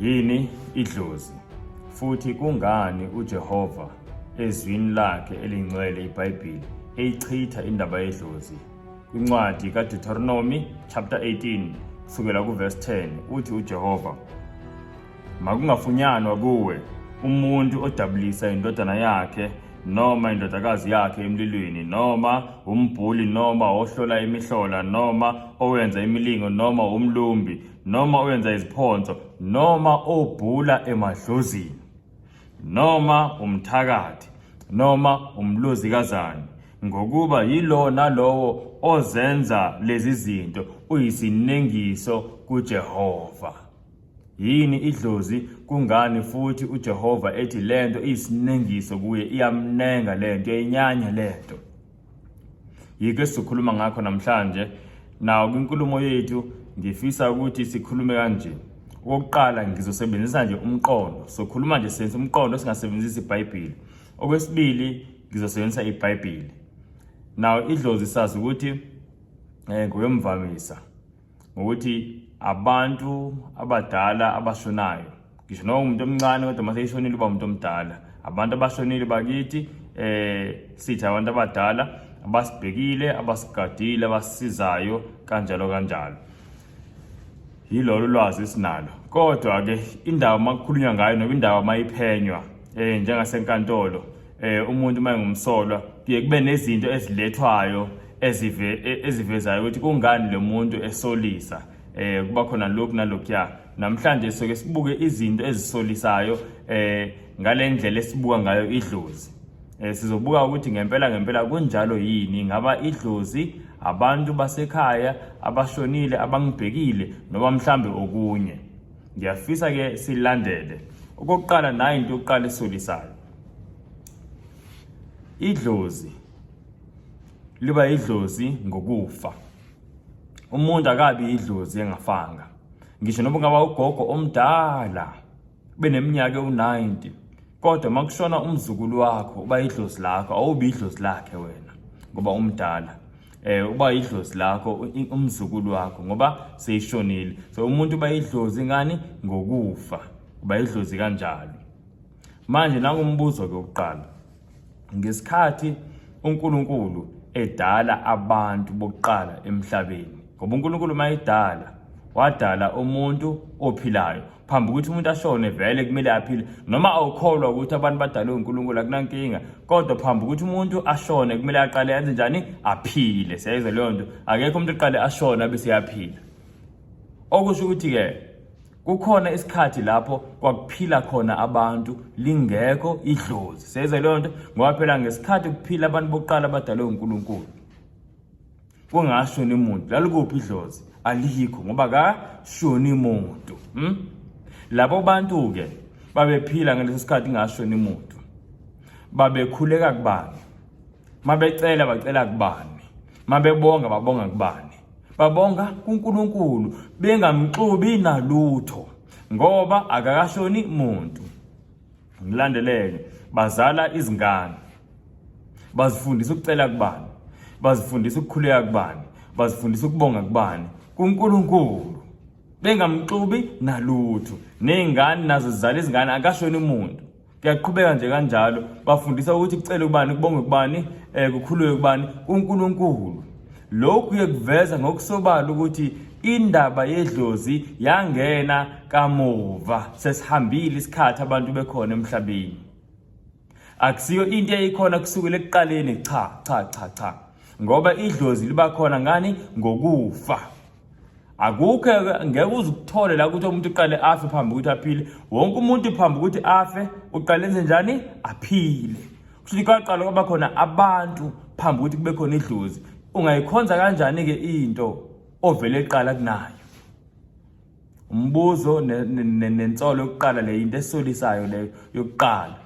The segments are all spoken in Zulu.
Yini idlozi? Futhi kungani uJehova ezwini lakhe elingcwele iBhayibheli eyichitha indaba yedlozi? Kwincwadi kaDeuteronomy chapter 18 kusukela kuverse 10 uthi uJehova Makungafunyanwa kuwe umuntu odabulisa indodana yakhe noma indodakazi yakhe emlilweni noma umbhuli noma ohlola imihlola noma owenza imilingo noma umlumbi noma owenza iziphonso noma obhula emadlozini noma umthakathi noma umlozikazane ngokuba yilo nalowo ozenza lezi zinto uyisinengiso kuJehova Yini idlozi kungani futhi uJehova ethi lento iyisinengiso kuye iyamnenga lento inyanya lento Yike sikhuluma ngakho namhlanje nawo kwinkulumo yethu ngifisa ukuthi sikhulume kanje okokuqala ngizosebenzisa nje umqondo sokhuluma nje senze umqondo singasebenzisi iBhayibheli okwesibili ngizosebenzisa iBhayibheli nawo idlozi sazi ukuthi eh ngoyomvamisa ngokuthi abantu abadala abashonayo ngisho noma umuntu omncane kodwa uma seyishonile uba umuntu omdala abantu abashonile bakithi eh sithi abantu abadala abasibhekile abasigadile abasizayo kanjalo kanjalo yilolu lwazi esinalo kodwa ke indawo makukhulunywa ngayo noba indawo mayiphenywa eh njengasenkantolo eh umuntu uma engumsolwa kuye kube nezinto ezilethwayo ezive e, ezivezayo ukuthi kungani lo muntu esolisa eh kuba khona lokhu nalokhuya namhlanje soke sibuke izinto ezisolisayo eh ngalendlela esibuka ngayo idlozi eh sizobuka ukuthi ngempela ngempela kunjalo yini ngaba idlozi abantu basekhaya abashonile abangibhekile noma mhlambe okunye ngiyafisa ke silandele okokuqala nayi into yokuqala esolisayo idlozi liba idlozi ngokufa umuntu akabi idlozi engafanga ngisho noma kungaba ugogo omdala beneminyaka ewu-90 kodwa uma kushona umzukulu wakho uba idlozi lakho awubi idlozi lakhe wena ngoba umdala eh uba idlozi lakho umzukulu wakho ngoba seyishonile so umuntu uba idlozi ngani ngokufa uba idlozi kanjalo Manje nangumbuzo ke ukuqala. Ngesikhathi uNkulunkulu edala abantu bokuqala emhlabeni. Ngoba uNkulunkulu mayidala wadala umuntu ophilayo. Phambi ukuthi umuntu ashone vele kumele aphile. Noma awukholwa ukuthi abantu badalwe uNkulunkulu akunankinga. Kodwa phambi ukuthi umuntu ashone kumele aqale enze njani? Aphile. Siyayizwa leyo nto. Akekho umuntu oqale ashona bese yaphila. Okusho ukuthi ke kukhona isikhathi lapho kwakuphila khona abantu lingekho idlozi seyizwa leyo nto ngoba phela ngesikhathi kuphila abantu bokuqala abadalwe unkulunkulu kungashoni muntu lalikuphi idlozi alikho ngoba kashoni muntu hmm? labo bantu-ke babephila ngaleso sikhathi kungashoni muntu babekhuleka kubani mabecela bacela kubani mabebonga babonga kubani babonga kuNkulunkulu bengamxubi nalutho ngoba akakashoni muntu ngilandeleke bazala izingane bazifundisa ukucela kubani bazifundisa ukukhuleka kubani bazifundisa ukubonga kubani kuNkulunkulu bengamxubi nalutho nezingane nazo zizala izingane akashoni umuntu kuyaqhubeka nje kanjalo bafundisa ukuthi kucele ubani kubonge kubani um kukhululwe kubani unkulunkulu lokhu kuye kuveza ngokusobala ukuthi indaba yedlozi yangena kamuva sesihambile isikhathi abantu bekhona emhlabeni akusiyo into eyikhona kusukela ekuqaleni cha cha cha cha ngoba idlozi liba khona ngani ngokufa akukho ngeke uze ukuthole la ukuthi umuntu uqale afe phambi ukuthi aphile wonke umuntu phambi ukuthi afe uqale enze njani aphile kusho ukuthi kwaqala kwaba khona abantu phambi ukuthi kube khona idlozi ungayikhonza kanjani-ke into ovele eqala kunayo umbuzo nensolo yokuqala le into esolisayo leyo yokuqala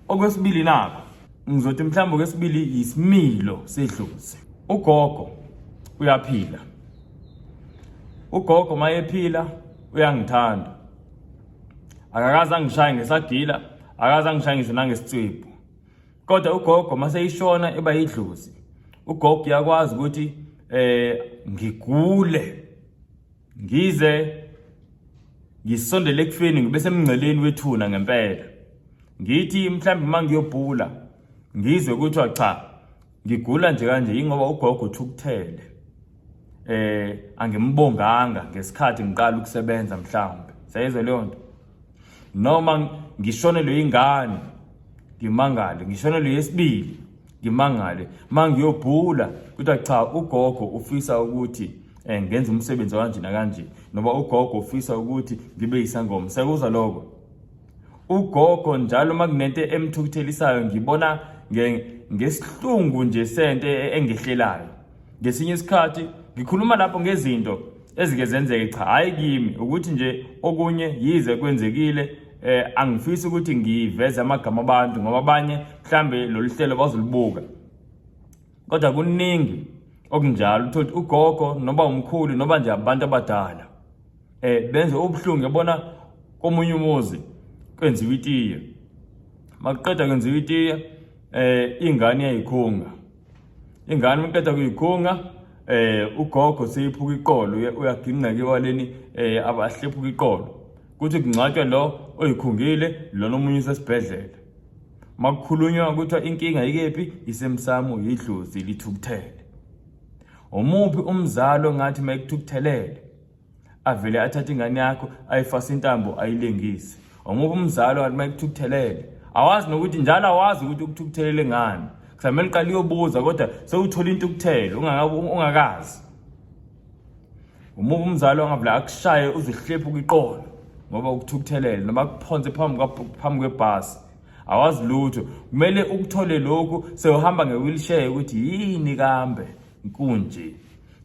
Okwesibili nako ngizothi mhlawumbe okwesibili yisimilo sedlozi. Ugogo uyaphila. Ugogo mayephila uyangithanda. Akakaze angishaye ngesagila, akaze angishaye ngisho nangesitswebhu. Kodwa ugogo mase ishona eba yidlozi. Ugogo uyakwazi ukuthi eh ngigule Ngize ngisondele ekufeni ngibe semngceleni wethuna ngempela. Ngithi mhlawumbe uma ngiyobhula ngizwe kuthiwa cha ngigula nje kanje yingoba ugogo uthukuthele. Eh angimbonganga ngesikhathi ngiqala ukusebenza mhlawumbe. Sayizwe leyo nto. Noma ngishonelwe ingane ngimangale ngishonelwe yesibili ngimangale mangiyobhula kuthiwa cha ugogo ufisa ukuthi um ngenza umsebenzi kanje nakanje noba ugogo ufisa ukuthi ngibe yisangoma sekuza loko ugogo njalo uma kunento emthukuthelisayo ngibona ngesihlungu nje sento e-, engehlelayo ngesinye isikhathi ngikhuluma lapho ngezinto ezike zenzeke cha hhayi kimi ukuthi nje okunye yize kwenzekile eh angifisi ukuthi ngiveze amagama abantu ngoba abanye mhlambe lolu hlelo bazolibuka kodwa kuningi okunjalo uthole ugogo noba umkhulu noba nje abantu abadala eh benze ubuhlungu yabona komunye umuzi kwenziwa itiye makuqeda kwenziwa itiye eh ingane yayikhunga ingane makuqeda kuyikhunga eh ugogo seyiphuka iqolo uyaginqeka iwaleni eh abahlephuka iqolo kuthi kungcwatshwa lo oyikhungile lona omunye usesibhedlela Makukhulunywa kuthiwa inkinga ikephi isemsamo yidlozi lithukuthele. Omuphi umzalo ngathi mayikuthukuthelele avele athathe ingane yakho ayifase intambo ayilengise. Omuphi umzalo ngathi mayikuthukuthelele awazi nokuthi njalo awazi ukuthi ukuthukuthelele ngani. Kusamele uqale uyobuza kodwa sewuthola intukuthelo ungakazi. Uma umzali wangavula akushaye uzihlephe kwiqolo ngoba ukuthukuthelele noma kuphonse phambi phambi kwebhasi awazi lutho kumele ukuthole lokhu sewuhamba ngewheelchair ukuthi yini kambe inkunje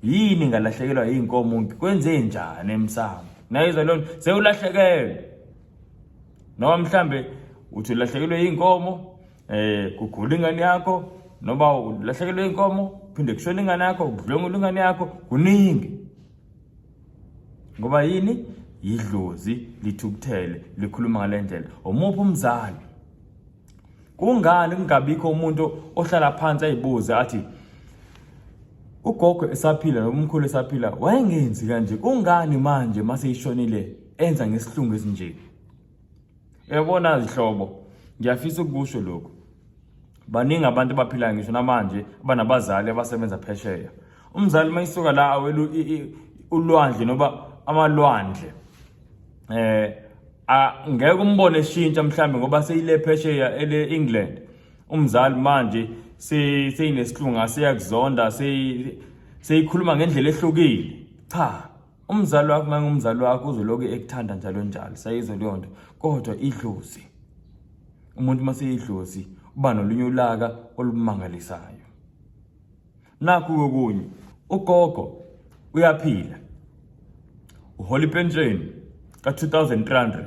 yini ngalahlekelwa yinkomo ngikwenze njani emsamo nayizwa lona sewulahlekelwe noma mhlambe uthi ulahlekelwe yinkomo Eh kugula ingane yakho noma ulahlekelwe inkomo phinde kushona ingane yakho ukudlwengula ingane yakho kuningi. Ngoba yini? Yidlozi lithukuthele likhuluma ngalendlela. Omuphi umzali? Kungani kungabikho umuntu ohlala phansi ayibuze athi ugogo esaphila nomkhulu esaphila wayengenzi kanje kungani manje mase ishonile enza ngesihlungu esinje Yabona zihlobo, ngiyafisa ukusho lokho. Baningi abantu abaphila ngisho namanje abanabazali abasebenza phesheya. Umzali mayisuka la awelu ulwandle noba amalwandle. Eh ngeke umbone eshintsha mhlambe ngoba seyile phesheya ele England. Umzali manje seyinesilunga seyakuzonda seyikhuluma ngendlela ehlukile. Cha. umzali wakho uma ngumzali wakho uzoloku ekuthanda njalo njalo sayizo leyo nto kodwa idlozi umuntu uma seyidlozi uba nolunye ulaka olumangalisayo nakhu kokunye ugogo uyaphila uhola ipensheni ka-2300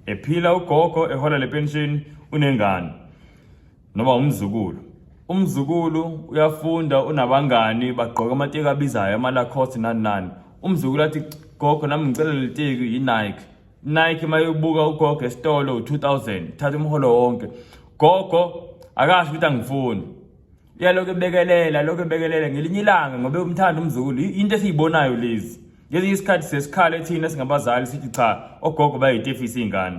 ephila ugogo ehola le pensheni unengane noma umzukulu umzukulu uyafunda unabangani bagqoka amateki abizayo amalacoste nani nani umzukulu athi gogo nami ngicela leliteki yinike nike uma yobuka ugogo esitolo u-2000 thatha umholo wonke gogo akasho ukuthi angifuni uyalokhu ebekelela lokhu ebekelela ngelinye ilanga ngobe umthanda umzukulu into esiyibonayo lezi ngezinye isikhathi sesikhale thina singabazali sithi cha ogogo bayitefisa iy'ngane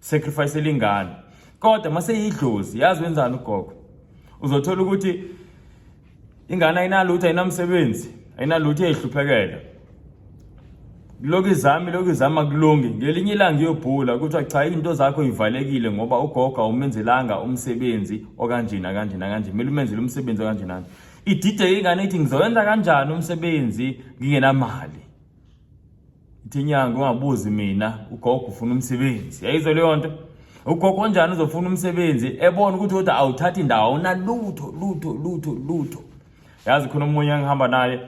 sacrifice elingani kodwa maseyidlozi yazi wenzani ugogo uzothola ukuthi ingane ayinalutho ayinamsebenzi ayinalutho eyihluphekela lokhu izami lokhu izama kulungi ngelinye ilanga iyobhula kuthiwa cha izinto zakho ivalekile ngoba ugogo awumenzelanga umsebenzi okanjena kanjena kanje kumele umenzele umsebenzi okanjena idideke ingane ithi ngizowenza kanjani umsebenzi ngingenamali ithi inyanga ungabuzi mina ugogo ufuna umsebenzi yayizwa leyo nto ugogo onjani uzofuna umsebenzi ebona ukuthi kodwa awuthathi indawo awunalutho lutho lutho lutho yazi khona omunye engihamba naye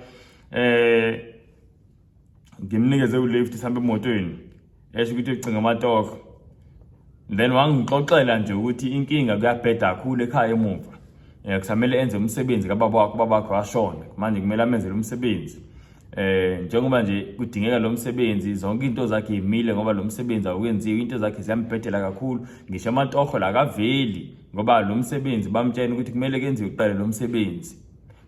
eh ngimnikeze ulift sihambe emotweni esho ukuthi ucinga amatoko then wangixoxela nje ukuthi inkinga kuyabheda kakhulu ekhaya emuva eh kusamele enze umsebenzi kababa wakho babakho washona manje kumele amenzele umsebenzi eh njengoba nje kudingeka lo msebenzi zonke into zakhe imile ngoba lo msebenzi awukenziwe into zakhe ziyambhedela kakhulu ngisho amatoho la kaveli ngoba lo msebenzi bamtshela ukuthi kumele kenziwe kuqale lo msebenzi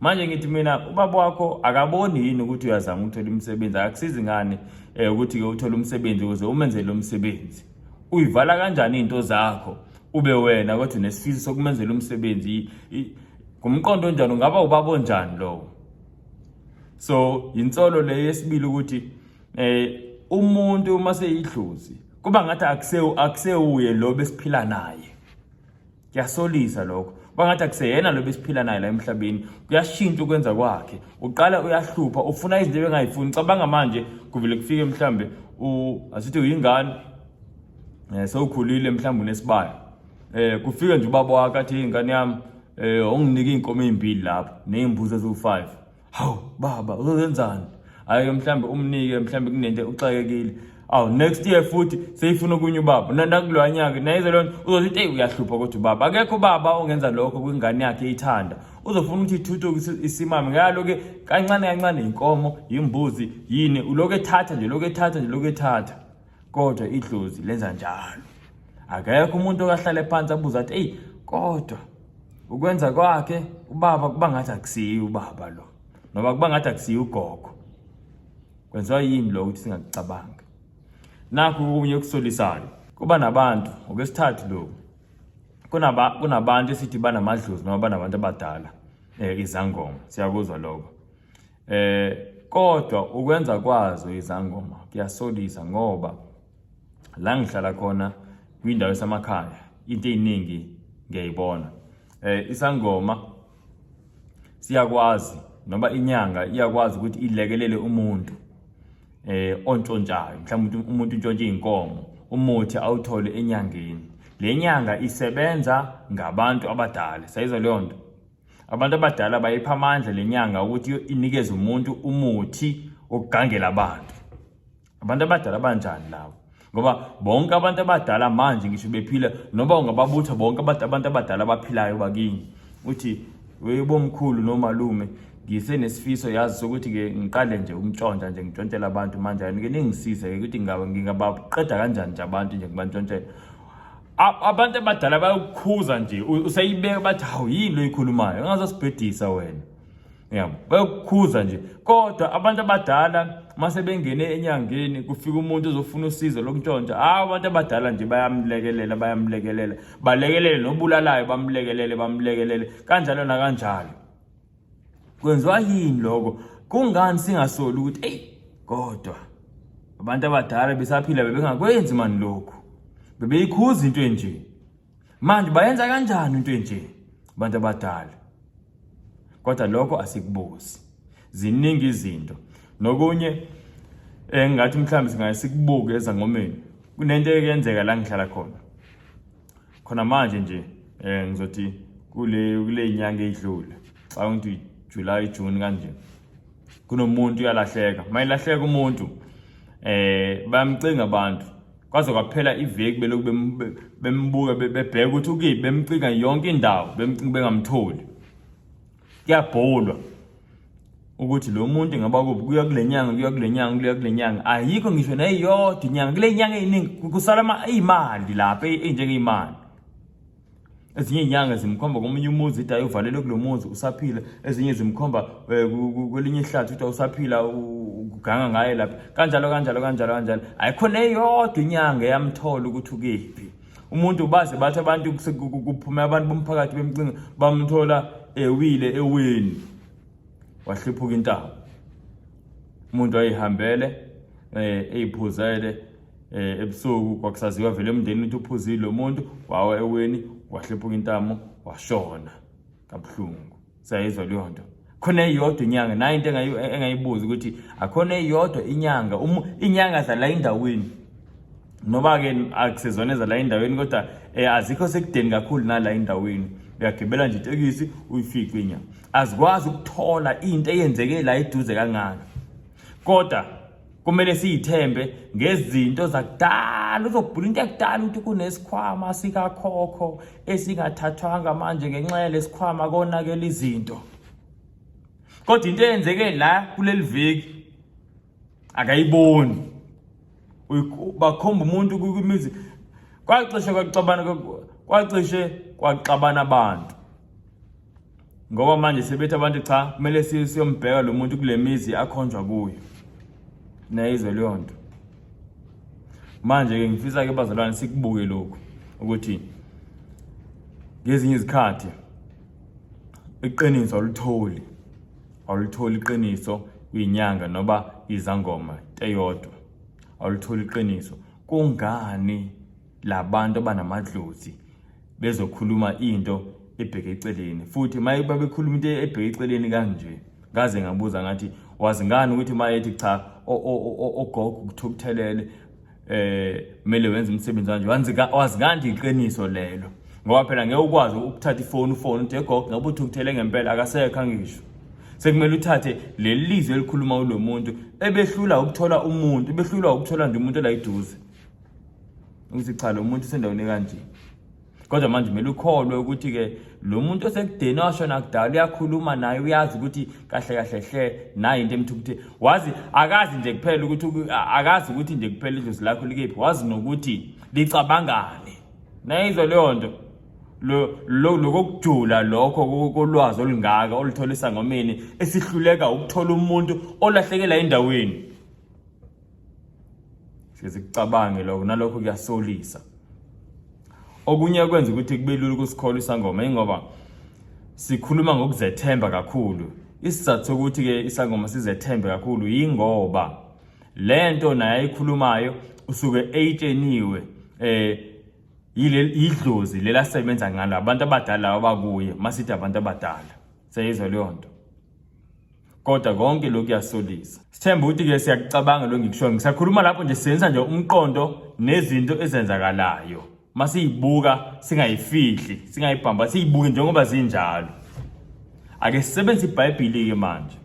manje ngithi mina ubaba wakho akaboni yini ukuthi uyazama ukuthola umsebenzi akakusizi ngani eh ukuthi ke uthole umsebenzi ukuze umenzele lo msebenzi uyivala kanjani into zakho ube wena kodwa nesifiso sokumenzela umsebenzi ngumqondo onjani ungaba ubaba onjani lowo so yinsolo le yesibili ukuthi eh umuntu uma seyidlozi kuba ngathi akusewuye lo besiphila naye kuyasolisa lokho bangathi akuseyena lo besiphila naye la emhlabeni kuyashintsha ukwenza kwakhe uqala uyahlupha ufuna izinto ebengayifuni cabanga manje kuvele kufike mhlambe asithi uyingane um eh, sewukhulile mhlawumbe unesibaya um eh, kufike nje ubaba wakho athi ingane yami um eh, unginike iy'nkomo ey'mbili lapho ney'mbuzi eziwu-five hawu baba uzenzani hayi-ke mhlawumbe umnike mhlawumbe kunento uxakekile awu next year futhi seyifuna okunye ubaba nandakuloya nyaka nayize loo nto uzothi eyi uyahlupha kodwa ubaba akekho ubaba ongenza lokho kwingane yakhe ithanda uzofuna ukuthi ithuthuke isimame ngalo-ke kancane kancane yinkomo yimbuzi yini uloku ethatha nje loku ethatha nje loku ethatha kodwa idlozi lenza njalo akekho umuntu okahlale phansi abuze athi eyi kodwa ukwenza kwakhe ubaba kuba ngathi akusiyi ubaba lo noma kuba ngathi akusiyi ugogo kwenziwa yini lo ukuthi singakucabanga nakho kunye okusolisayo kuba nabantu ngokwesithathu lo kunaba kunabantu esithi banamadlozi noma banabantu abadala eh izangoma siyakuzwa lokho Eh kodwa ukwenza kwazo izangoma kuyasolisa ngoba la ngihlala khona kwindawo esamakhaya into eziningi ngiyayibona eh isangoma siyakwazi noma inyanga iyakwazi ukuthi ilekelele umuntu eh ontshontshayo mhlawumbe umuntu untshontshe inkomo umuthi awuthole enyangeni le nyanga isebenza ngabantu abadala sayizwa leyo nto Abantu abadala bayipha amandla lenyanga ukuthi inikeze umuntu umuthi okugangela abantu. Abantu abadala banjani labo? Ngoba bonke abantu abadala manje ngisho bephila noba ungababutha bonke abantu abantu abadala abaphilayo bakini. Uthi weyibomkhulu nomalume ngise nesifiso yazi sokuthi ke ngiqale nje umtshontsha nje ngitshontshela abantu manje ayike ningisize ke ukuthi ngingaba ngingabaqeda kanjani nje abantu nje ngibantshontshela abantu abadala bayokukhuza nje useyibeka bathi hawu yini lo yikhulumayo ungazasibhedisa wena yabo bayokukhuza nje kodwa abantu abadala mase bengene enyangeni kufika umuntu ozofuna usizo lokuntshontsha hawu abantu abadala nje bayamlekelela bayamlekelela balekelele nobulalayo bamlekelele bamlekelele kanjalo nakanjalo Kwenziwa yini lokho? Kungani singasoli ukuthi eyi kodwa abantu abadala besaphila bebengakwenzi mani lokhu. Bebeyikhuza into enje. Manje bayenza kanjani into enje abantu abadala? Kodwa lokho asikubuzi. Ziningi izinto. Nokunye engathi mhlawumbe singaye sikubuke ezangomeni. Kunento eyenzeka la ngihlala khona. khona manje nje um ngizothi kule kule nyanga edlule xa ngithi July June kanje kunomuntu uyalahleka mayilahleka umuntu eh bayamcinga abantu kwaze kwaphela iveki beloku bembuka bebheka ukuthi ukiphi bemcinga yonke indawo bemcinga bengamtholi kuyabholwa ukuthi lo muntu ingaba kuphi kuya kule nyanga kuya kule nyanga kuya kule nyanga ayikho ngisho neyodwa inyanga kule nyanga eyiningi kusala iyimali lapha enjengeyimali ezinye izinyanga zimkhomba komunye umuzi ukuthi ayovalelwe kulo muzi usaphila ezinye zimkhomba eh, kwelinye ihlathi ukuthi awusaphila uganga ngaye lapha kanjalo kanjalo kanjalo kanjalo ayikho neyodwa inyanga eyamthola ukuthi ukephi umuntu baze bathi abantu kuphume abantu bomphakathi bemcinga bamthola ewile eweni wahliphuka intaba umuntu ayihambele eh eyiphuzele eh ebusuku kwakusaziwa vele umndeni uthi uphuzile lo muntu wawa eweni wahliphuka intamo washona kabuhlungu sayizwa leyo nto khona eyodwa inyanga nayo into engayibuza ukuthi akhona eyodwa inyanga um, inyanga zala endaweni noba ke akusezona ezala endaweni kodwa um azikho sekudeni kakhulu nala endaweni uyagibela nje itekisi uyifice inyanga azikwazi ukuthola into eyenzeke la eduze kangaka kodwa kumele siyithembe ngezinto zakudala uzobhula into yakudala ukuthi kunesikhwama sikakhokho esingathathwanga manje ngenxa yalesikhwama konakela izinto kodwa into eyenzeke la kuleli viki akayiboni bakhomba umuntu kwimizi kwacishe kwaxabana kwacishe kwaxabana abantu ngoba manje sebethi abantu cha kumele siyombheka lo muntu kule mizi akhonjwa kuyo nayizwe leyo nto manje-ke ngifisa-ke bazalwane sikubuke lokhu ukuthi ngezinye izikhathi iqiniso awulitholi awulitholi iqiniso kwinyanga noba izangoma teyodwa awulitholi iqiniso kungani labantu abanamadlozi bezokhuluma into ebheke eceleni futhi maye babekhuluma into ebheke eceleni kanje ngaze ngabuza ngathi wazi ngani ukuthi mayethi cha ogogo kuthiwa kuthelele eh kumele wenze umsebenzi kanje wazi kanti iqiniso lelo ngoba phela ngeke ukwazi ukuthatha ifoni ufone uthi egogo ngabe uthi ukuthele ngempela akasekho angisho sekumele uthathe leli lizwi elikhuluma ulo muntu ebehlula ukuthola umuntu ebehlula ukuthola nje umuntu elayiduze Ngithi cha lo muntu sendaweni kanje. Kodwa manje kumele ukholwe ukuthi ke lo muntu osekudeni washona kudala uyakhuluma naye uyazi ukuthi kahle kahle hle nayi into emthukuthe. Wazi akazi nje kuphela ukuthi akazi ukuthi nje kuphela idlozi lakho likephi wazi nokuthi licabangane. Nayizwa leyo nto. lo lokujula lokho kolwazi olungaka oluthola isangomeni esihluleka ukuthola umuntu olahlekela endaweni sihlezi kucabange lokho nalokho kuyasolisa okunye kwenza ukuthi kube lula ukusikholwa isangoma ingoba sikhuluma ngokuzethemba kakhulu isizathu sokuthi ke isangoma sizethembe kakhulu yingoba lento naye ayikhulumayo usuke eyitsheniwe eh yidlozi lelasebenza ngalo abantu abadala abakuye masithi abantu abadala seyizwa leyo nto kodwa konke lokhu kuyasolisa sithemba ukuthi ke siyakucabanga lo ngikushoyo ngisakhuluma lapho nje sisebenzisa nje umqondo nezinto ezenzakalayo masiyibuka singayifihli singayibhamba siyibuke njengoba zinjalo ake sisebenzise ibhayibhili ke manje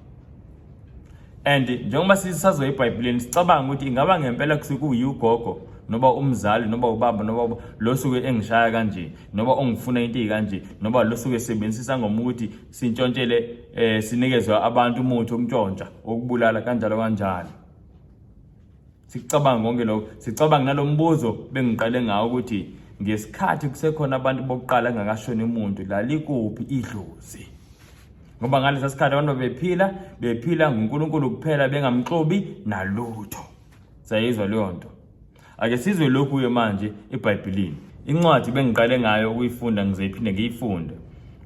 and njengoba sisazoya ebhayibhilini sicabanga ukuthi ingaba ngempela kusekuyi ugogo noba umzali noba ubaba noba lo suke engishaya kanje noba ongifuna into eyikanje noba lo suke sebenzisa ngomuthi sintshontshele eh sinikeze abantu umuthi okuntshontsha okubulala kanjalo kanjalo sicabanga konke lokho sicabanga nalombuzo bengiqale ngawo ukuthi ngesikhathi kusekhona abantu bokuqala engakashoni umuntu lalikuphi idlozi ngoba ngalesa sikhathi abantu bephila bephila nguNkulunkulu kuphela bengamxobi nalutho sayizwa leyo nto Ake sizwe lokhu-ke manje eBhayibhelini. Incwadi bengiqale ngayo ukuyifunda ngizoyiphinde ngiyifunde.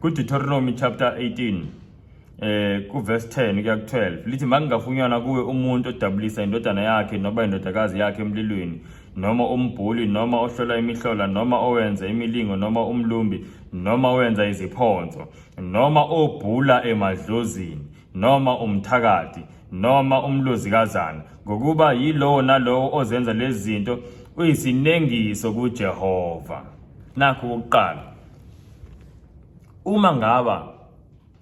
KuDeuteronomy chapter 18 eh kuverse 10 kuya ku-12 lithi makungafunyanwa kuwe umuntu odabulisa indodana yakhe noba indodakazi yakhe emlilweni noma umbhuli noma ohlola imihlola noma owenza imilingo noma umlumbi noma owenza iziphonso noma obhula emadlozini noma umthakathi noma umlozikazana ngokuba yilowo nalowo ozenza lezi zinto uyisinengiso kuJehova nakho ukuqala uma ngaba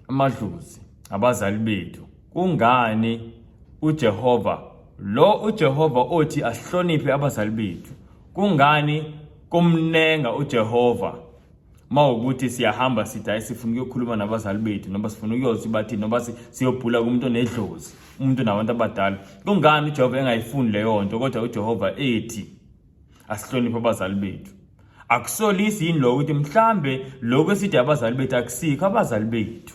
amadlozi abazali bethu kungani uJehova lo uJehova othi asihloniphe abazali bethu kungani kumnenga uJehova uma ukuthi siyahamba sithi hayi sifuna ukuyokhuluma nabazali bethu noma sifuna ukuyothi bathini noma siyobhula kumuntu onedlozi umuntu nabantu abadala kungani ujehova engayifuni leyo nto kodwa ujehova ethi asihloniphe abazali bethu akusolisi yini lokho ukuthi mhlambe lokho esithi abazali bethu akusikho abazali bethu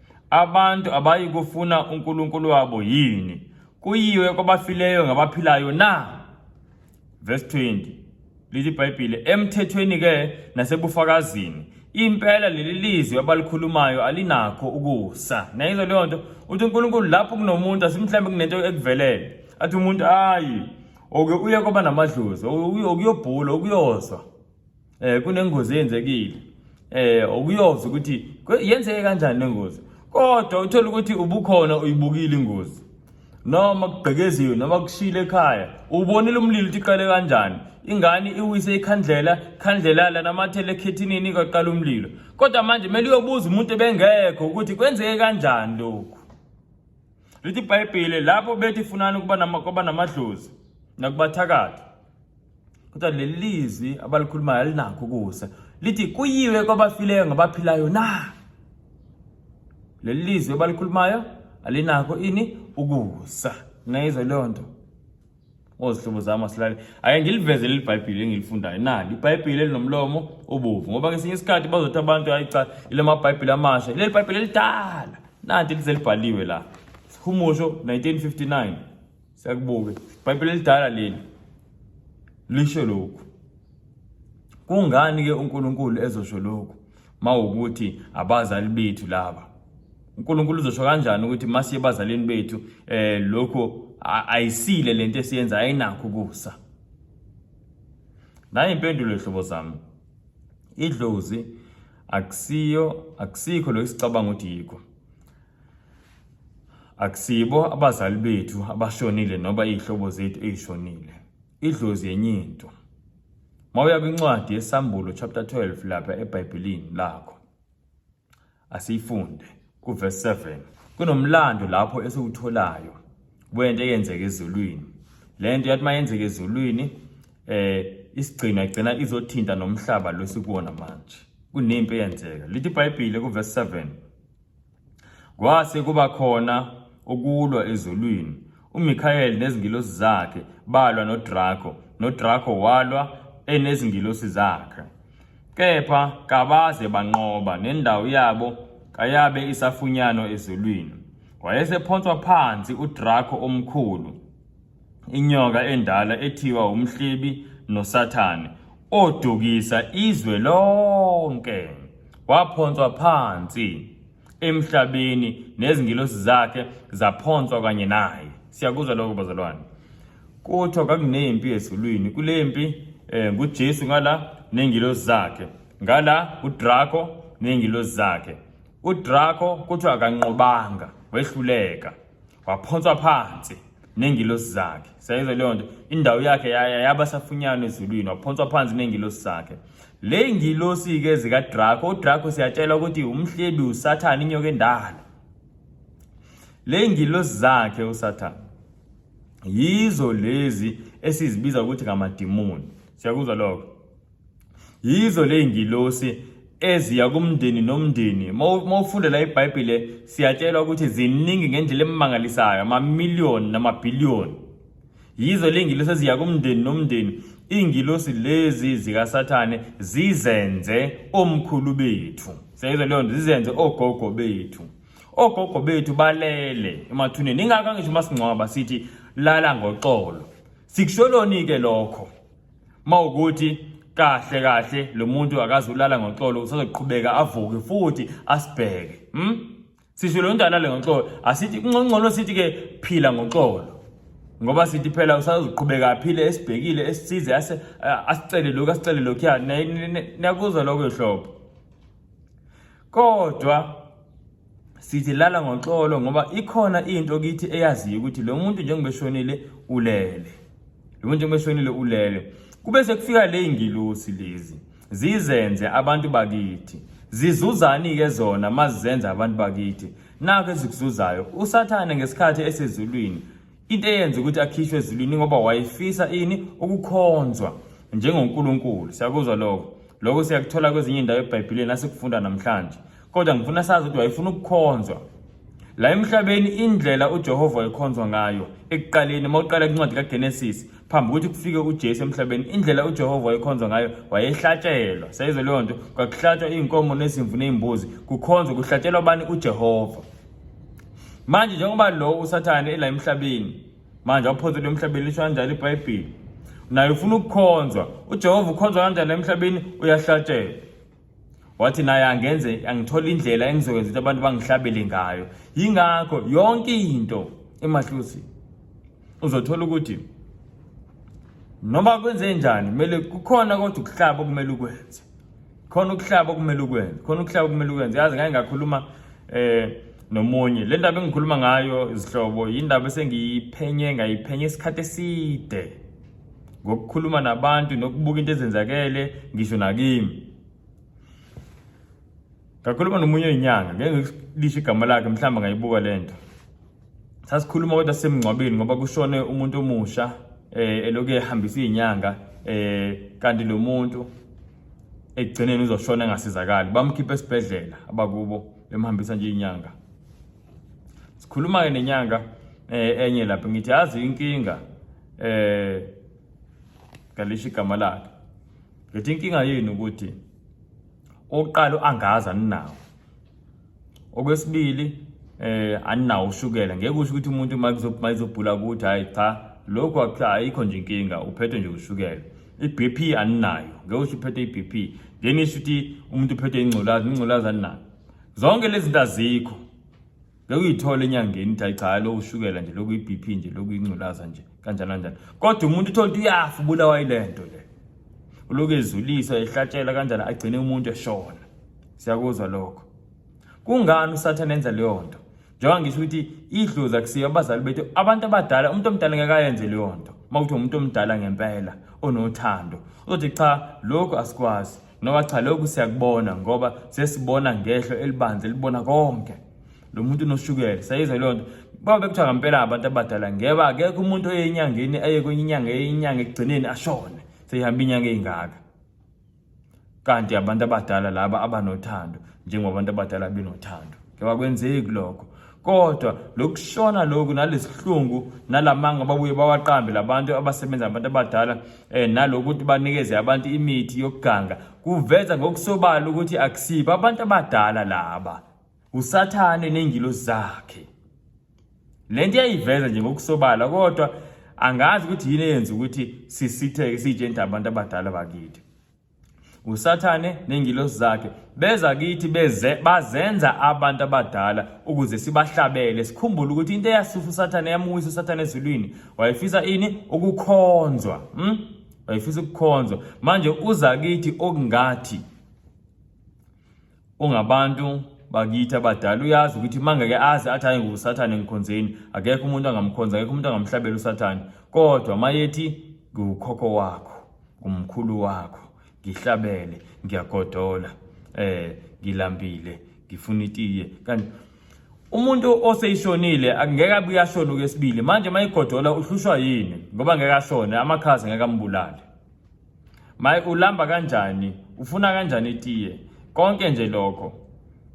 Abantu abayi kufuna uNkulunkulu wabo yini? Kuyiwe kwabafileyo ngabaphilayo na? Verse 20. Lithi iBhayibhile, emthethweni ke nasebufakazini. Impela leli lizwi abalikhulumayo alinakho ukusa. Nayizwa leyo nto, uthi uNkulunkulu lapho kunomuntu asimhlambe kunento ekuvelele. Athi umuntu ayi, oke uye kwaba namadlozi, okuyobhula, okuyozwa. eh kunengozi eyenzekile eh okuyoza ukuthi yenzeke kanjani lengozi kodwa uthola ukuthi ubukhona uyibukile ingozi noma kubhekeziwe noma kushile ekhaya ubonile umlilo ukuthi iqale kanjani ingane iwise ikhandlela khandlela lanamathele ekhethinini kwaqala umlilo kodwa manje kumele uyobuza umuntu ebengekho ukuthi kwenzeke kanjani lokhu lithi ibhayibhile lapho bethi funani ukuba namadlozi nakubathakathi kodwa leli lizwi abalikhulumayo alinakho ukusa lithi kuyiwe kwabafileyo ngabaphilayo na leli lizwi abalikhulumayo alinakho ini ukusa nayizwa leyo nto ozihlobo zami asilale ake ngiliveze leli bhayibhile engilifundayo nali ibhayibhile elinomlomo obovu ngoba ngesinye isikhathi bazothi abantu hayi cha ile mabhayibhile amasha leli bhayibhile elidala nanti lizelibhaliwe la humusho 1959 Siyakubuke. Ibhayibheli elidala leli lisho lokhu. Kungani ke uNkulunkulu ezosho lokhu? Mawukuthi abazali bethu laba. uNkulunkulu uzosho kanjani ukuthi masiye bazalini bethu eh lokho ayisile lento esiyenza ayinakho kusa. Nayi impendulo ehlobo zami. Idlozi akusiyo akusikho lo isicabanga ukuthi yikho. Akusibo abazali bethu abashonile noba izihlobo zethu ezishonile. Idlozi yenye into. Mawuya kwincwadi yeSambulo chapter 12 lapha eBhayibhelini lakho. Asiyifunde kuverse 7. Kunomlando lapho esiwutholayo wento eyenzeka ezulwini. Lento yathi mayenzeka ezulwini eh isigcina igcina izothinta nomhlaba losikuwona manje. Kunempi eyenzeka. Lithi iBhayibheli kuverse 7. Kwase kuba khona ukulwa ezulwini. UMikhayeli nezingilosi zakhe balwa noDraco, noDraco walwa enezingilosi zakhe. Kepha kabaze banqoba nendawo yabo kayabe isafunyanwa ezulwini. Wayesephonswa phansi uDraco omkhulu. inyoka endala ethiwa umhlebi nosathane odukisa izwe lonke waphonswa phansi emhlabeni nezingilosi zakhe zaphonswa kanye naye siyakuzwa lokho bazalwane kuthiwa kakunempi ezulwini kule mpi um ngujesu ngala nengilosi zakhe ngala udrako nengilosi zakhe udrako kuthiwa akanqobanga wehluleka waphonswa phansi nengilosi zakhe sayizwa leyo nto indawo yakhe yaba safunyana ezulwini waphonswa phansi nengilosi zakhe le ngilosi-ke zikadrako udrako siyatshela ukuthi umhlebi usathane inyoka endala le ngilosi zakhe usathane yizo lezi esizibiza ukuthi ngamadimoni siyakuzwa lokho yizo ley'ngilosi eziya kumndeni nomndeni uma ufunda la ibhayibhile siyatshelwa ukuthi ziningi ngendlela emangalisayo amamiliyoni namabhiliyoni yizo le ngilosi eziya kumndeni nomndeni iy'ngilosi lezi zikasathane zizenze omkhulu bethu siyayizwa leyo nto zizenze ogogo bethu ogogo bethu balele emathuneni ingakho angisho uma singcwaba sithi lala ngoxolo sikusholoni-ke lokho mawukuthi kahle kahle lo muntu akazi ulala ngoxolo usazoqhubeka avuke futhi asibheke hm sisho lo muntu alale ngoxolo asithi kuncono sithi ke phila ngoxolo ngoba sithi phela usazoqhubeka aphile esibhekile esisize ase asicele lokho asicele lokho ya nakuzwa lokho ehlobo kodwa sithi lala ngoxolo ngoba ikhona into kithi eyaziyo ukuthi lo muntu njengoba eshonile ulele lo muntu njengoba eshonile ulele kube sekufika le ingilosi lezi zizenze abantu bakithi zizuzani ke zona mazizenza abantu bakithi nake zikuzuzayo usathane ngesikhathi esezulwini Into eyenza ukuthi akhishwe ezulwini ngoba wayefisa ini ukukhonzwa njengoNkulunkulu. Siyakuzwa lokho. Lokho siyakuthola kwezinye indawo eBhayibhelini nasikufunda namhlanje. Kodwa ngifuna sazi ukuthi wayefuna ukukhonzwa. La emhlabeni indlela uJehova wayekhonzwa ngayo ekuqaleni uma uqala incwadi kaGenesis phambi ukuthi kufike uJesu emhlabeni indlela uJehova wayekhonzwa ngayo wayehlatshelwa sayizwe leyo nto kwakuhlatshwa iy'nkomo nezimvu ney'mbuzi kukhonzwa kuhlatshelwa bani uJehova manje njengoba lo usathane ela emhlabeni manje waphothela emhlabeni lisho kanjalo ibhayibheli naye ufuna ukukhonzwa ujehova ukhonzwa kanjani emhlabeni uyahlatshelwa wathi naye angenze angithola indlela engizokwenza ukuthi abantu bangihlabele ngayo yingakho yonke into emahlusi uzothola ukuthi noma kwenze njani kumele kukhona kodwa ukuhlaba okumele ukwenze khona ukuhlaba okumele ukwenze khona ukuhlaba okumele ukwenze yazi ngake ngakhuluma eh nomunye le ndaba engikhuluma ngayo izihlobo yindaba esengiyiphenye ngayiphenye isikhathi eside ngokukhuluma nabantu nokubuka into ezenzakele ngisho nakimi ngakhuluma nomunye inyanga ngeke ngilisho igama lakhe mhlawumbe ngayibuka le nto sasikhuluma kodwa sisemngcwabeni ngoba kushone umuntu omusha eh eloku ehambisa izinyanga eh kanti lo muntu ekugcineni uzoshona engasizakali bamkhipha esibhedlela abakubo bemhambisa nje inyanga sikhuluma ke nenyanga eh enye lapho ngithi yazi inkinga eh ngalisho igama lakhe ngithi inkinga yini ukuthi oqalo angaza ninawo okwesibili eh aninawo ushukela ngeke usho ukuthi umuntu uma kuzobhuma izobhula ukuthi hayi cha lokho ayikho nje inkinga uphethwe nje ushukela i-BP aninayo ngeke usho uphethe i-BP then isho ukuthi umuntu uphethe ingculaza ingculaza aninayo zonke lezi zinto azikho ngeke uyithole enyangeni ukuthi hayi cha lo ushukela nje lokhu i-BP nje lokhu ingculaza nje kanjani kanjani kodwa umuntu uthola ukuthi uyafa ubulawa yile nto le uloku ezulisa ehlatshelwa kanjani agcine umuntu eshona siyakuzwa lokho kungani usathane enza leyo nto njengoba ngisho ukuthi idlozi akusiyo abazali bethu abantu abadala umuntu omdala ngeke ayenze leyo nto uma kuthiwa umuntu omdala ngempela onothando uzothi cha lokhu asikwazi noma cha lokhu siyakubona ngoba sesibona ngehlo elibanzi elibona konke lo muntu unoshukela sayizwa leyo nto baba bekuthiwa ngempela abantu abadala ngeba akekho umuntu oye enyangeni aye kwenye inyanga eyinyanga ekugcineni ashone seyihamba inyanga eyingaka kanti abantu abadala laba abanothando njengoba abantu abadala benothando kebakwenzeki lokho kodwa lokushona lokhu nalesihlungu nalamanga babuye bawaqambe labantu abasebenza abantu abadala eh nalokuthi banikeze abantu imithi yokuganga kuveza ngokusobala ukuthi akusibo abantu abadala laba usathane nengilosi zakhe le nto iyayiveza nje ngokusobala kodwa angazi ukuthi yini eyenza ukuthi sisitheke sitshe into abantu abadala bakithi usathane nengilosi zakhe beza kithi beze bazenza abantu abadala ukuze sibahlabele sikhumbule ukuthi into eyasusa usathane yamuwisa usathane ezulwini wayefisa ini ukukhonzwa hmm? wayefisa ukukhonzwa manje uza kithi okungathi ungabantu bakithi abadala uyazi ukuthi mangeke azi athi hayi ngusathane ngikhonzeni akekho umuntu angamkhonza akekho umuntu angamhlabela usathane kodwa mayethi ngukhokho wakho ngumkhulu wakho ngihlabele ngiyagodola eh ngilambile ngifuna itiye kanti umuntu oseyishonile akungeke abuye ashone okwesibili manje mayigodola uhlushwa yini ngoba ngeke ashone amakhazi ngeke ambulale Maye ulamba kanjani? Ufuna kanjani itiye? Konke nje lokho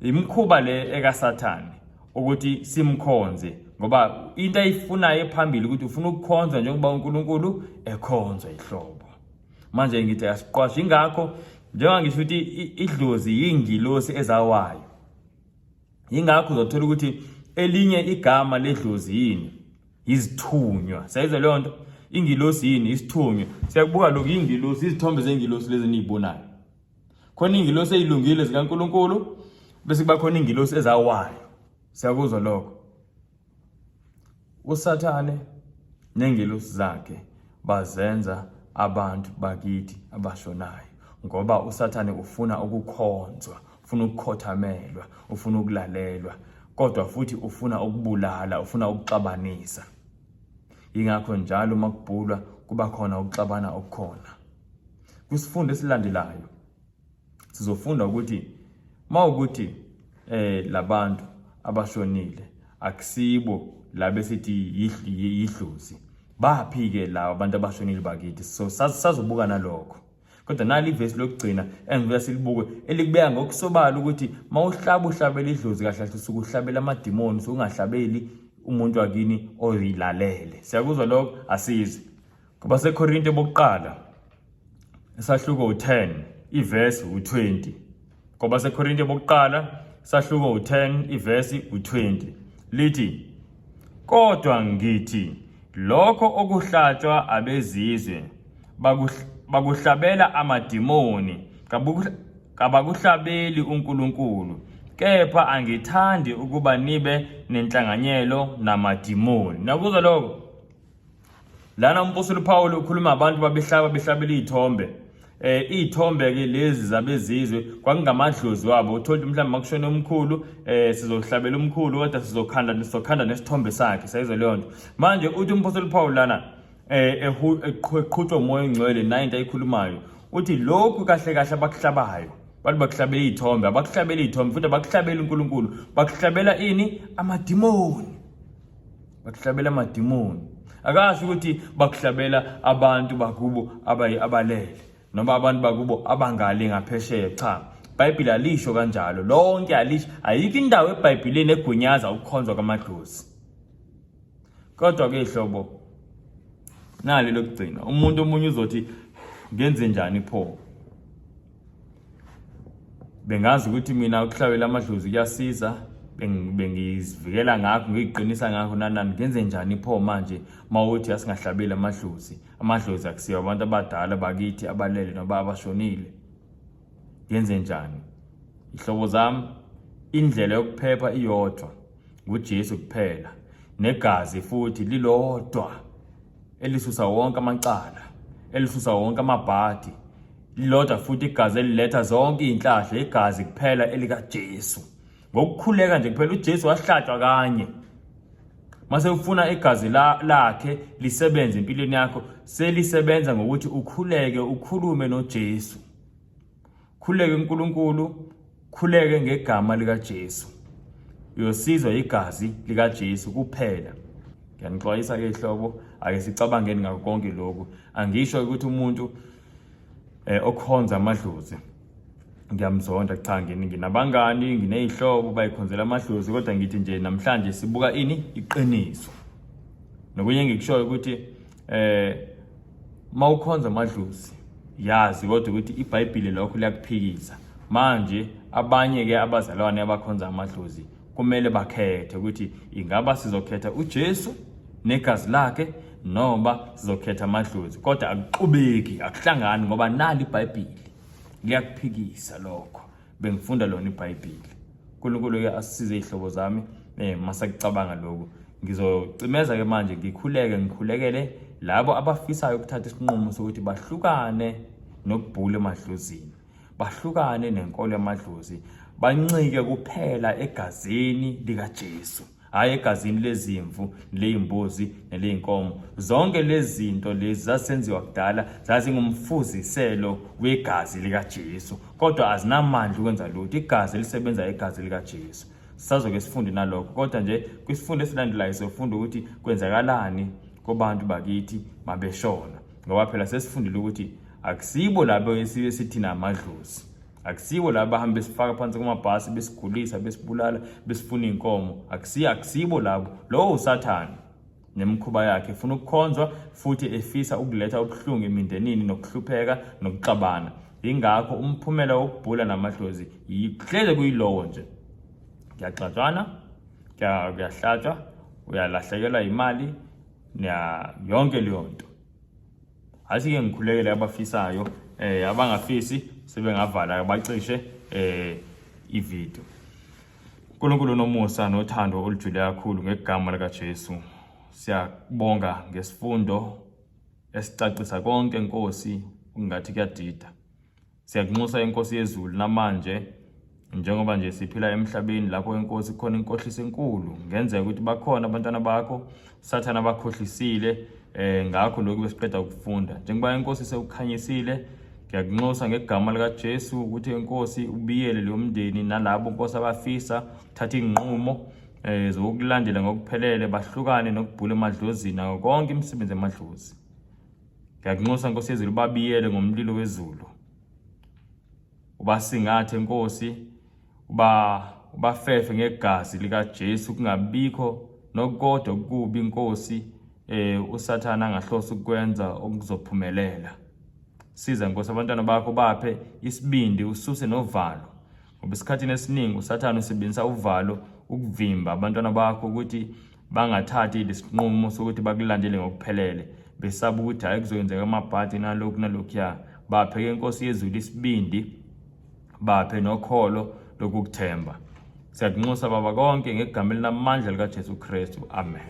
imkhuba le ekaSathane ukuthi simkhonze ngoba into ayifunayo ephambili ukuthi ufuna ukukhonzwa njengoba uNkulunkulu ekhonzwa ihlobo. Manje ngithi asiqwashe ingakho njengoba ngisho ukuthi idlozi yingilosi ezawayo. Ingakho uzothola ukuthi elinye igama ledlozi yini? izithunywa sayize leyo nto ingilosi yini isithunywa siyakubuka lokhu ingilosi izithombe zengilosi lezi niyibonayo khona ingilosi eyilungile zikaNkuluNkulu bese kuba khona ingilosi ezawayo siyakuzwa lokho usathane nengilosi zakhe bazenza abantu bakithi abashonayo ngoba usathane ufuna ukukhonzwa ufuna ukukhothamelwa ufuna ukulalelwa kodwa futhi ufuna ukubulala ufuna ukuxabanisa yingakho njalo uma kubhulwa kuba khona ukuxabana okukhona kwisifundo esilandelayo sizofunda ukuthi uma ukuthi eh labantu abashonile akusibo labe sithi yidlozi baphi ke lawo abantu abashonile bakithi so sazobuka nalokho kodwa nali ivesi lokugcina engibuya silibuke elikubeka ngokusobala ukuthi mawuhlaba uhlabela idlozi kahle kahle usuke uhlabela amadimoni usuke ungahlabeli umuntu wakini oyilalele siyakuzwa lokho asizi ngoba sekorinte bokuqala isahluko u-10 ivesi u-20 Ngoba seKorinte bokuqala sahluko u-10 ivesi u-20 lithi kodwa ngithi lokho okuhlatshwa abezizwe bakuhlabela amadimoni kabakuhlabeli uNkulunkulu kepha angithandi ukuba nibe nenhlanganyelo namadimoni nakuzwa lokho Lana umpostoli uPawulu ukhuluma abantu babehlaba behlabela iy'thombe eh iy'thombe-ke lezi zabezizwe kwakungamadlozi wabo uthole ukuthi mhlawumbe makushone omkhulu eh sizohlabela umkhulu kodwa sizokhanda sizokhanda nesithombe sakhe sayizwa leyo nto manje uthi umpostoli uPawulu lana eh eqhutshwa umoya ongcwele nayo into ayikhulumayo uthi lokhu kahle kahle abakuhlabayo bantu bakuhlabela iy'thombe abakuhlabela iy'thombe futhi abakuhlabela unkulunkulu bakuhlabela ini amadimoni bakuhlabela amadimoni akasho ukuthi bakuhlabela abantu bakubo abalele noma abantu bakubo abangale ngaphesheya cha ibhayibhile alisho kanjalo lonke alisho ayikho indawo ebhayibhileni egunyaza ukukhonzwa kwamadlozi kodwa ke hlobo nali lokugcina umuntu omunye uzothi ngenze njani pho bengazi ukuthi mina ukuhlawela amadlozi kuyasiza bengizivikela ngakho ngiyiqinisa ngakho nanani ngenze njani pho manje mawuthi asingahlabeli amadlozi amadlozi akusiyo abantu abadala bakithi abalele noba abashonile ngenze njani ihlobo zami indlela yokuphepha iyodwa nguJesu kuphela negazi futhi lilodwa elisusa wonke amacala elisusa wonke amabhadi lilodwa futhi igazi eliletha zonke izinhlahla igazi kuphela elikaJesu ngokukhuleka nje kuphela uJesu wahlatshwa kanye mase ufuna igazi lakhe lisebenze empilweni yakho selisebenza ngokuthi ukhuleke ukhulume noJesu Khuleke uNkulunkulu, khuleke ngegama likaJesu. Uyosizwa igazi likaJesu kuphela. Ngiyanixwayisa ke hlobo, ake sicabangeni ngakho konke lokhu. Angisho ukuthi umuntu eh okhonza amadlozi ngiyamzonda cha ngini nginabangani nginezihlobo bayikhonzela amadlozi kodwa ngithi nje namhlanje sibuka ini iqiniso. Nokunye engikushoyo ukuthi eh mawukhonza amadlozi yazi kodwa ukuthi iBhayibheli lokho liyakuphikisa manje abanye ke abazalwane abakhonza amadlozi kumele bakhethe ukuthi ingaba sizokhetha uJesu negazi lakhe noma sizokhetha amadlozi kodwa akuxubeki akuhlangani ngoba nali iBhayibheli liyakuphikisa lokho bengifunda lona ibhayibheli unkulunkulu-ke asisize iy'hlobo zami um masakucabanga lokhu ngizocimeza ke manje ngikhuleke ngikhulekele labo abafisayo ukuthatha isinqumo sokuthi bahlukane nokubhula emadlozini bahlukane nenkolo yamadlozi bancike kuphela egazini likaJesu hhayi egazini lezimvu ley'mbuzi neley'nkomo zonke lezi zinto lezi zasenziwa kudala zazingumfuziselo wegazi likajesu kodwa azinamandla ukwenza lutho igazi elisebenza igazi likajesu sazoke sifunde nalokho kodwa nje kwisifundo esilandelayo siyofunda ukuthi kwenzakalani kobantu bakithi mabeshona ngoba phela sesifundile ukuthi akusibo labo esibe sithina amadlozi akusibo laba bahambe besifaka phansi kumabhasi besigulisa besibulala besifuna iy'nkomo akusiyo akusibo labo lowo usathane nemikhuba yakhe efuna ukukhonzwa futhi efisa ukuletha ubuhlungu emindenini nokuhlupheka nokuxabana yingakho umphumela wokubhula namadlozi yihleze kuyilowo nje kuyaxatshwana kuyahlatshwa uyalahlekelwa yimali yonke leyo nto Athi ke ngikhulekele abafisayo eh abangafisi sebengavala bacishe eh ivideo. Nkulunkulu nomusa nothando olujule kakhulu ngegama lika Jesu. Siyabonga ngesifundo esicacisa konke Nkosi ungathi kuyadida. Siyakunxusa inkosi yezulu namanje njengoba nje siphila emhlabeni lapho inkosi khona inkohliso enkulu ngenzeka ukuthi bakhona abantwana bakho sathana bakhohlisile eh ngakho lokhu besiqeda ukufunda njengoba inkosi sewukhanyisile ngiyakunxusa ngegama likaJesu ukuthi inkosi ubiyele leyo mndeni nalabo inkosi abafisa thatha inqumo eh zokulandela ngokuphelele bahlukane nokubhula emadlozini konke imisebenzi emadlozi Ngiyakunxusa Nkosi yezulu babiyele ngomlilo wezulu. Ubasingathe Nkosi uba ubafefe ngegazi lika Jesu kungabikho nokodwa kubi inkosi eh usathana angahlosa ukwenza okuzophumelela. Siza Nkosi abantwana bakho baphe isibindi ususe novalo. Ngoba esikhathini esiningi uSathane usebenzisa uvalo ukuvimba abantwana bakho ukuthi bangathathi lesinqumo sokuthi bakulandele ngokuphelele besaba ukuthi hayi kuzoyenzeka amabhadi nalokhu nalokhuya baphe ke inkosi yezulu isibindi baphe nokholo lokukuthemba siyakunxusa baba konke ngegama elinamandla likaJesu Kristu amen